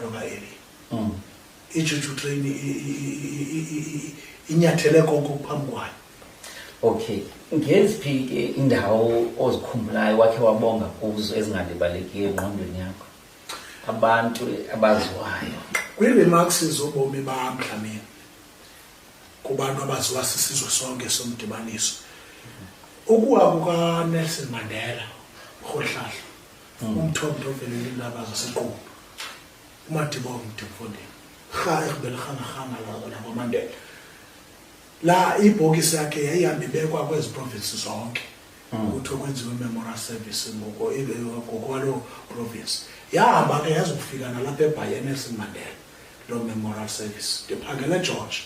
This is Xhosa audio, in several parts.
Ntoba eli. Mm. Ijuju train inyathele konke phambi kwayo. Okay. Ngeziphi ke indawo ozikhumbulayo wakhe wabonga kuzo ezingalibaleki engqondweni yakho? Abantu abaziwayo. Kwi-remarks zobomi bam Dlamini kubantu abaziwa sisizwe sonke somdibaniso ukuwa kukanelson mandela rholihlahla hmm. umthombo ovelela iindaba zesiqulu umadiba omde mfondini rha ekubelirhanarhana nakomandela la ibhokisi yakhe yayihambe ibekwa kwezi provinsi zonke hmm. ukuthi okwenziwe imemorial service ngokwaloo province yahamba ke yazokufika nalapha ebhayenes mandela loo memorial service ndiphangele george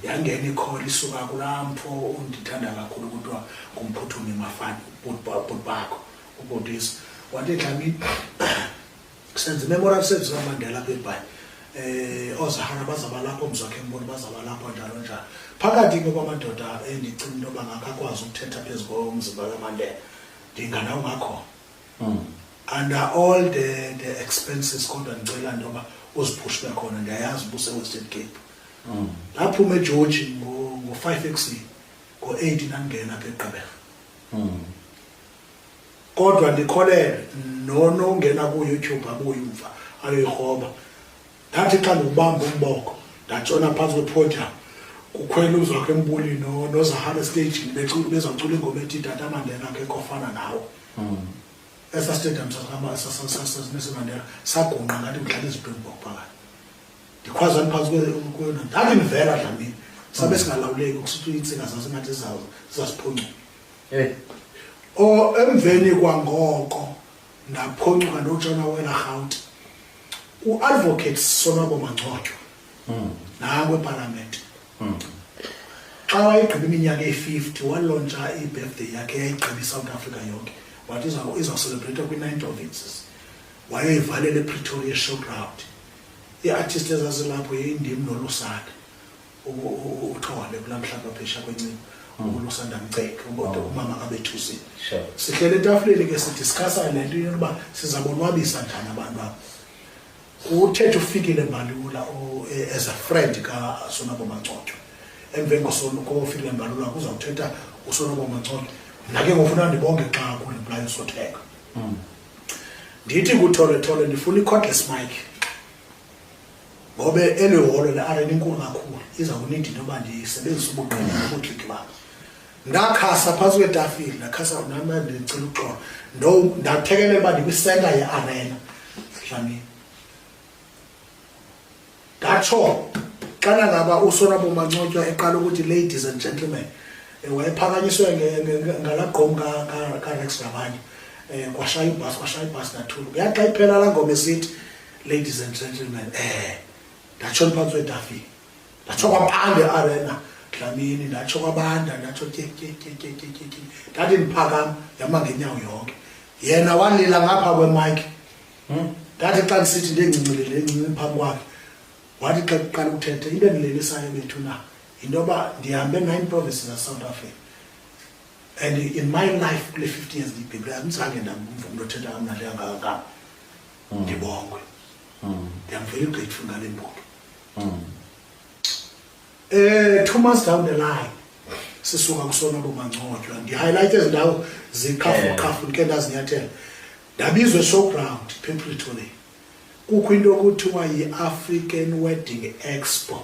yangena ikhona isuka kulaa mfo undithanda kakhulu kuthiwa ngumphuthumi mafani bhuti bakho ubotisa wathi dlamini senza i-memorial service kamandela apha ebhayi um eh, oozahara bazaba lapho mzwakhe mboni bazaba lapho njalo njalo phakathi ke kwamadoda endicinga into yoba ngakho akwazi ukuthetha phezu komzimba kamandela ndingana ungakhona hmm. under all the, the expenses kodwa ndicela into yoba uziphushe ube khona ndiyayazi ubusewestern cape hmm. ndaphuma egeorgi ngo-five ekusini ngo-eight ndandingena apha egqibela hmm. kodwa ndikholele nonongena kuyoutube abuye umva ayoyirhoba ndathi xa ndiwubamba umboko ndatshona phantsi kwepodium kukhwela uzwakho embuli nozahara estagini bezawucula ingoma ethi tata mandela ke kofana nawo hmm. esa stadium sasesimandela sagungqa ngathi kudlala izidwemboko phakathi ndikhwazani phantsi kweyona ndandindivela dlamini sabe hmm. singalawuleki kusithi intsika zasingathi zizasiphuncuka Eh. o emveni kwangoko ndaphoncuka ndotshona wela rhawuti uadvocate sonwabo mangcotywa hmm. nango epalamente hmm. xa wayegqiba iminyaka eyi-fifty walontsha ibirthday yakhe yayigqiba isouth africa yonke wathi izawucelebrate kwi-nine provinces wayoyivalela epretoria showground ii-artist ezazilapho yindim nolusana uthole kulaa mhlaba phesha kwencini umuntu usanda mceke ubona oh. umama abethusile sihlele etafuleni ke sidiskhasa le nto yokuba sizabonwabisa njani abantu abo uthethe ufikile mbalula e, as a friend kasonabo mancotyo emveni kofikile mbalula kuzawuthetha usonabo mancotyo mna ke ngofuna ndibonge xa kulibulayo sotheka hmm. ndithi kuthole thole ndifuna i-cordless mike ngoba eli holo le-arena inkulu kakhulu iza kunidi into yoba ndisebenzise ubuqina nobutliki bam ndakhasa phantsi kwetafile ndakhasa nama ndicela uxolo ndathekelela uba ndikwisenta ye-arena dlamini ndatsho xana ngaba usonabo mancotywa eqala ukuthi ladies and gentlemen eh, wayephakanyiswe ngalaa gqom karex nabanye um eh, kwashaya ibhasi kwashaya ibhasi nathulu kuyaxa iphela laa ngoma esithi ladies and gentlemen eh ndatsho ndiphantsi kwetafile ndatsho kwabande arena dlamini ndatsho kwabanda ndatsho tyekyetyekyetyekye ndathi ndiphakam yama ngenyawo yonke yena walila ngapha kwemike hmm? ndathi xa ndisithi ndingcincelele encinci phambi kwakhe wathi xa kuqala ukuthetha into endilelisayo bethu na yinto yoba ndihambe nine provinces zasouth africa and in my life kule fifty years ndiyibhibhile andizange ndamva umntu othetha kamnandi angakangam mm. ndibongwe mm. ndiyamvela igqitfu ngale mbonge um eh, two months down the line sisuka kusona bomangcotywa ndihighlight ezi ndawo ziqhafuqhafu ndike ndazinyathela ndabizwa eshowground pempletone kukho into okuthiwa yi-african wedding expo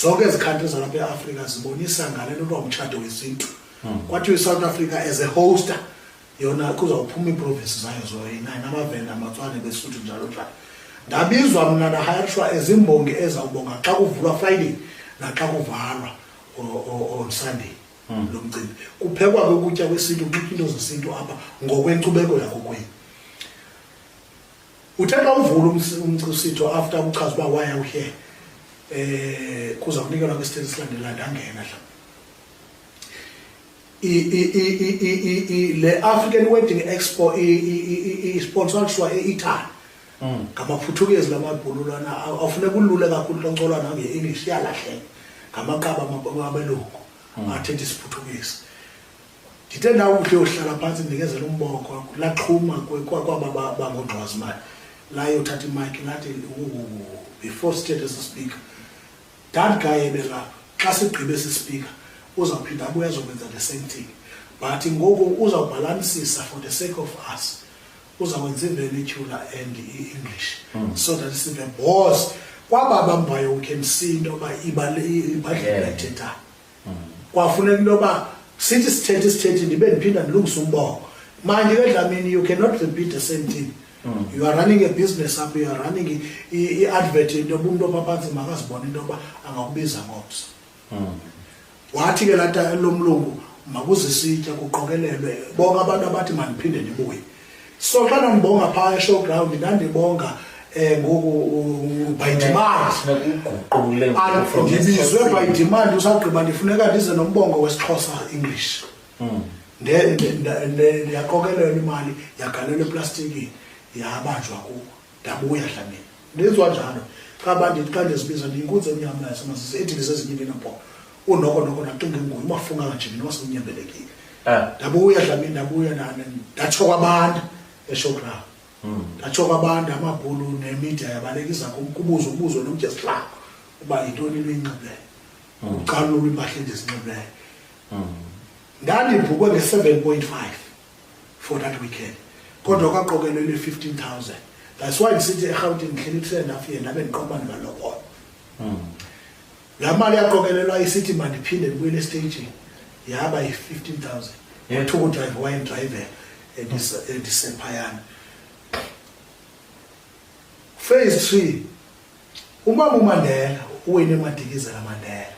zonke ezi country zalapha eafrika zibonisa ngale nto kuthiwa mtshato wesintu hmm. kwathiwa isouth africa as a hoster yona kuzawuphuma iiprovinsi zayo zoyinayo namavenda amatswane besuthu njalo njalo ndabizwa mna ndahayarishwa ezimbongi ezawubonga xa kuvulwa friday naxa kuvalwa on sunday hmm. lo mcimbi kuphekwa ke ukutya kwesintu kuxitwa into zesintu apha ngokwenkcubeko yakokwenu uthe xa uvula umsitho after kuchaza uba waya uhe um eh, kuza kunikelwa kwisithethe esilandela ndangena dla le african wedding expo isponsorswa e-italy mm. ngamaphuthukizi lamabhululwana afuneka ulule kakhulu loncolwana nge-english iyalahleka ngamaqaba abelungu mm. athetha isiphuthukizi ndithe ndawuhle uhlala phantsi ndikezela umboko laxhuma kwaba bangogqwazimali layothatha imayiki lathi before sithethe esi speaker that guy ebelapha xa sigqibe esi speaker uzawuphinda abuye azokwenza the same thing but ngoku uzawubhalansisa for the sake of us uzakwenza ivele ityhula and i-english hmm. so that sive bos kwaba bambayo ukhe msinto uba ibadlela ethethayo kwafuneka into yoba sithi sithethe isithethe ndibe ndiphinda ndilungise umboko manje ke dlamini you cannot repeat the same thing mm. you are running a business up you are running i-advert into yoba umntu ophaphantsi makazibona into yoba angakubiza ngomso mm. wathi ke lata lomlungu makuzisitya kuqokelelwe bonke abantu abathi mandiphinde ndibuye so xa nambonga phaa eshowground ndandibonga um ngoku ubhayidimandindibizwe bhayidimandi usagqiba ndifuneka ndize nombongo wesixhosa english hmm. ndiyaqokelelwa imali yagalelwa eplastikini yabanjwa kuwo ndabuya dlamini ndenziwa njalo qaba ndithi xa ndizibiza ndiyinkunzi emnyama yasemasisi ethi ndisezinyimbi nabhoko unoko noko ndacinga nguye umafunga kajimini wasenyembelekile eh. ndabuya dlamini ndabuya ndatsho kwabantu eshowground hmm. ndatsho kwabantu amabhulu nemidia yabalekisa kubuzo kubuzo nomjesilako uba yintoni into enxibeyo hmm. ucalulo impahla endizinxibeyo hmm. ndandibhukwe nge-seven point five for that weekend kodwa kwaqokelwe le 15000 that's why ndisithi erhawutini ndihleli kuse enough yena abe ndiqoba ndibalokola hmm. laa mali yaqokelelwa isithi mandiphinde ndibuyele estagini yaba yi-15000 wathuka udrayiva wayendrayive endisephayana phase three umama umandela uwene emadikizela mandela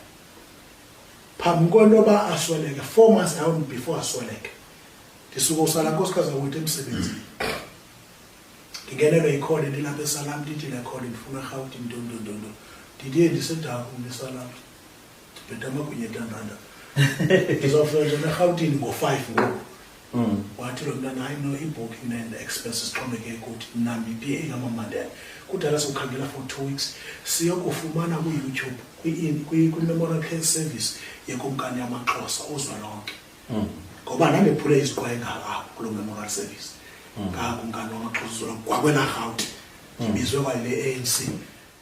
phambi kwento yoba asweleke four months down before asweleke ndisuke usala nkosikazi akuthi emsebenzini ndingenelwe yikhona ndilapha esalam ndithi lekhona ndifuna rhawuti mntondondondo ndidiye ndisedaku ndisalam ndibheda amagunya etandanda ndizawufika nje nerhawutini ngo-five ngoku Mm. wathi lo mntana hayi no i-booking and expenses xhomekeke kuthi mna ndipiye igama mandela kudala siwukhangela for two weeks siyokufumana kuyoutube kwi- kwi- kwi-memorial care service yekumkani yamaxhosa uzwa lonke Mm. ngoba ndandephule iziqwaye ngalawo kulo memorial service ngakumkani wamaxhosa uzwa lonke kwakwenarhawuti ndibizwe kwale anc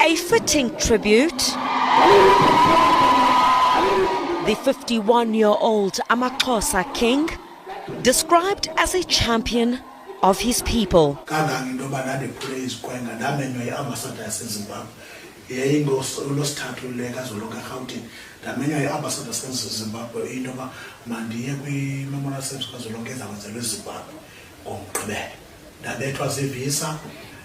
A fitting tribute. The 51 year old Amaxhosa king, described as a champion of his people. yayingolosithathu le kazolonke erhawutini ndamenywa yi-ambasada sasezimbabwe into yoba mandiye kwimemorial service kazolonke ezakwenzelwa ezimbabwe ngomgqibelo ndabethwa zivisa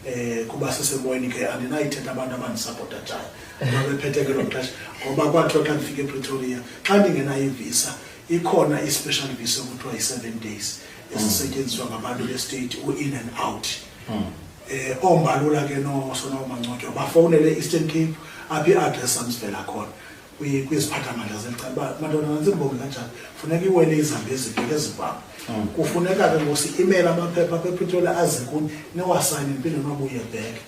eh kuba sisemoyeni ke andinayithetha abantu abandisapota njani babephethe ke loo xesha ngoba kwathiwa xa ndifika epretoria xa ndingenayo ivisa ikhona i-special visa okuthiwa yi-seven days esisetyenziswa ngabantu bestate u-in and out hmm. eh ombalula ke no sona umancotywa bafowunele eastern cape aphi i-address andivela khona kwiziphathamandla zeli cala uba madoda nantsibongi kanjani funeka iwele izambi ezibheke ezibham mm. kufuneka ke ngosi imele amaphepha apha epretoria azikuni niwasayine ndiphinde niwabuye bheke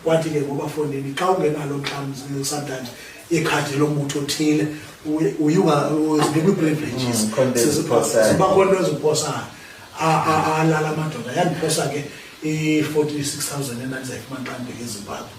kwathi ke ngobafondini xa ungenalo xa sometimes ikhadi lombutho othile uyungazinikwi-privileges mm, siba khona into eziposayo alala amadoda yandiphosa ke i-forty six thousand endandizayifumana xa ndibheke ezimbabwe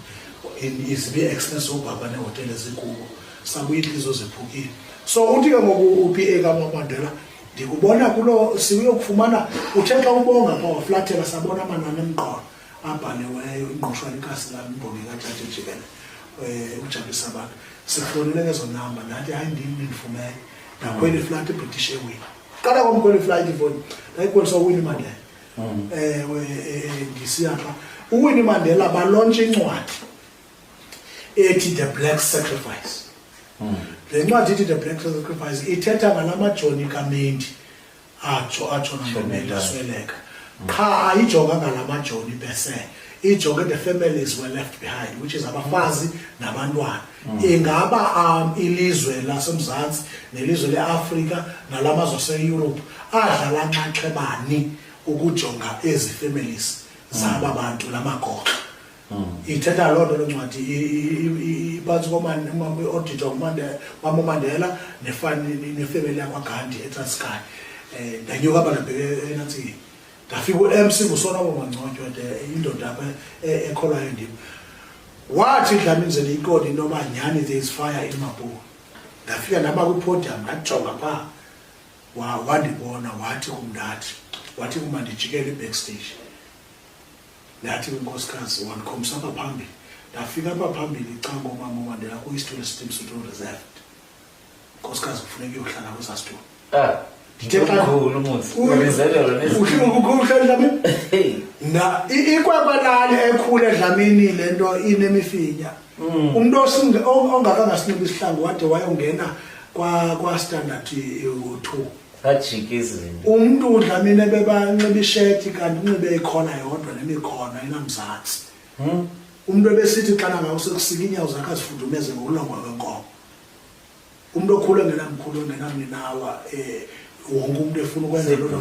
izibi expense obhaba nehotele ezikubo sabuye intlizo zephukile so uthi ke ngoku upa kamamandela ndikubona kulo siuyokufumana uthe xa ubonga pha waflathela sabona amanani emqolo abhaliweyo ingqushwa likasi lam imbongi katshati jikele um eh, ukujabulisa abantu sihlonele ngezo namba ndathi hayi ndim ndindifumele ndakhwela iflat ibritish ewini qala kwam kweli flight ifoni ndayikhwelisa uwini imandlela hmm. ewe eh, ndisiya pha uwinnie mandela balontshe incwadi ethi the black sacrifice hmm. le ncwadi ithi the black sacrifice ithetha ngala majoni kamendi atsho atsho nangemeli asweleka qha ayijonga ngala majoni bese ijonge the families were left behind which is abafazi nabantwana Mm. ingaba um, ilizwe lasemzantsi nelizwe leafrika nala mazwe aseyurophu adlala nxaxhebani ukujonga ezi families zaba mm. bantu la magoxa mm. ithetha loo nto loo ncwadi iphantsi kooditwa kwamomandela nefameli yakwagandi etraskay um eh, ndanyuka abantu enantsini ndafika u-mc ngusoloko mangconywa de indoda apha e- ekholwayo ndim wathi dlamenzela ikoni into yoba nyhani there is fire in mabuka ndafika ndaba kwipodium ndajonga phaa wandibona wathi kumndathi wathi uma ndijikele ibackstage ndathi kwinkosikazi wandikhomisa apha phambili ndafika apha phambili icangomama wandela kwi-stol steam sutol reserved nkosikazi kufuneka uyohlala kwezaa situlo ah, ndithe xakhulu mutsiuhlala edlamini ikwekwe lali ekhula edlamini le nto inemifinya mm. umntu ongakangasiniki isihlangu wade wayongena kwastandard two sajika izinto umntu udlamini ebebanxiba isheti kanti unxibe ikhona yodwa nemikhona enamzantsi hmm? umntu ebesithi xana ngawo sekusika iinyawo zakhe azifudumeze ngokulongwa kwenkomo umntu okhula engenamkhulu engenamninawa um wonke umntu efuna ukwenza loo nto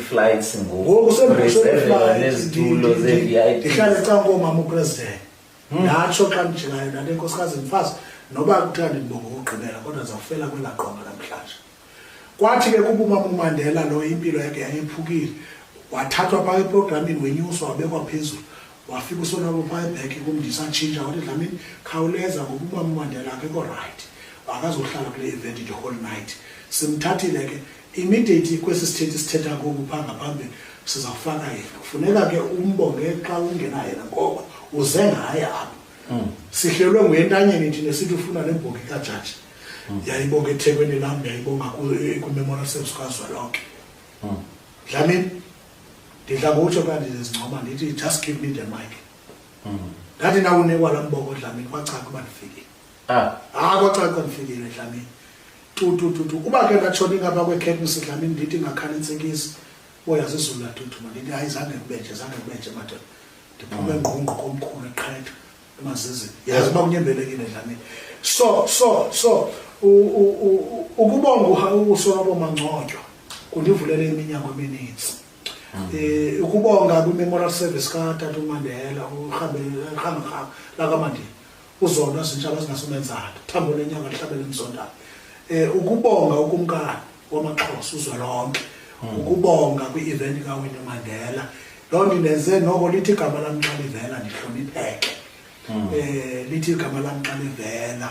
flights ngokusenezintulo ze-vip ndihlale cankomama upresident hmm. ndatsho xa ndijikayo ndale nkosikazi mfazi noba kuthiwa ndindibonga ukugqibela kodwa ndizawufela kwelaa qonga namhlanje kwathi ke kuba umamandela lo impilo yakhe yayephukile wathathwa phaa eprogramini wenyuswa wabekwa phezulu wafika usonabo phaa ebheke kumndisa atshintsha wathi dlamini khawuleza ngokuba umamandela akekho rayithi akazohlala kule event the whole night simthathile ke immediately kwesi sithethi sithetha koku phaa ngaphambi sizawufaka yena kufuneka ke umbonge xa ungena yena ngoba uze ngaye apho hmm. sihlelwe nguyentanyeni thina sithi ufuna le mbongi kajaji hmm. yayibonga ethekwini lam yayibonga kwimemorial service kazwelonke hmm. dlamini ndidla ngotsho ka ndizincoma ndithi just give me the mic hmm. ndathi nawunikwa la mboko dlamini kwacaca uba ndifikile ah. ah kwacaca uba ndifikile dlamini tutututu uba ke ndatshona ingapha kwekhekmisi dlamini ndithi ngakhala intsikisi oyazizula tutu mandithi hayi zange kubenje zange kubenje madoda ndiphume ngqungqo komkhulu eqhetha emazizini yazi uba unyembelekile dlamini so so so ukubonga usoloko mangcotywa kundivulele iminyango emininzi um ukubonga kwi-memorial service katata umandela urhamrham lakamandini uzona zintshala zingasumenzana thambo lenyanga lihlabele emzondana um ukubonga ukumkani wamaxhosa uzwelonke hmm. ukubonga kwi-eventi kawini mandela loo nto indenze noko lithi igama lam xa livela ndihlonipheke um lithi igama lam xa livela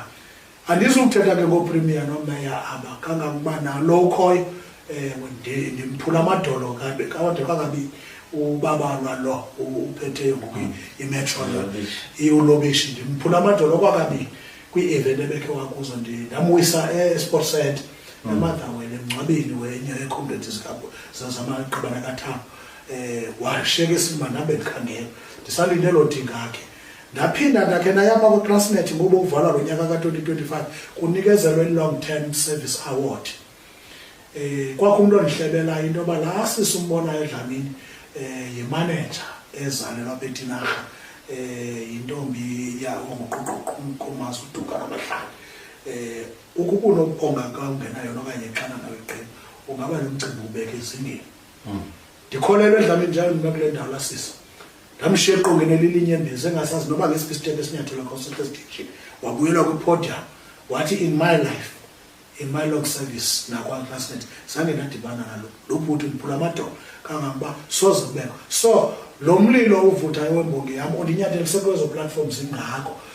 andizukuthetha ke ngoopremier nomeya aba kangangoba nalo ukhoyo um ndimphula amadolo kabe kawade kangabini ubabalwa lo uphetheyo ngoku hmm. imetro iulobishi ndimphula amadolo kwakabini kwi-event ebekhe wakuzo ndamwisa esport center emadlangweni emngcwabeni wenye yeekhomredi zamaqabana kathambo um eh, washiyeka esimba ndabe ndikhangela ndisalinde loo dingakhe ndaphinda ndakhe nayama kwiclassnet ngoba uvala lo nyaka ka-twenty twenty five kunikezelwa i-long term service award um kwakho umntu ondihlebelayo into yoba laa sisi umbonayo edlamini um eh, yimaneja ezalelwa apha etinarha um yintombi yangoquququ umazi uduka namahlali um Ukuba unomponganka ungenayo nokanye xana nawe qini ungaba nomcimbi ubeke ezingeni hmm. ndikholelwe edlamini njalo mna kule ndawo lasisa ndamshiya eqongeni elilinye embini sengasazi noba ngesiphi isithethe esinyathela consulta station wabuyelwa kwipodium wathi in my life in my long service nakwanclassnet zange ndadibana nalo lo bhuti ndiphula amadolo kangangoba soze kubekho so lo mlilo uvuthayo wembongi yam ondinyathelisekwezo platforms ingako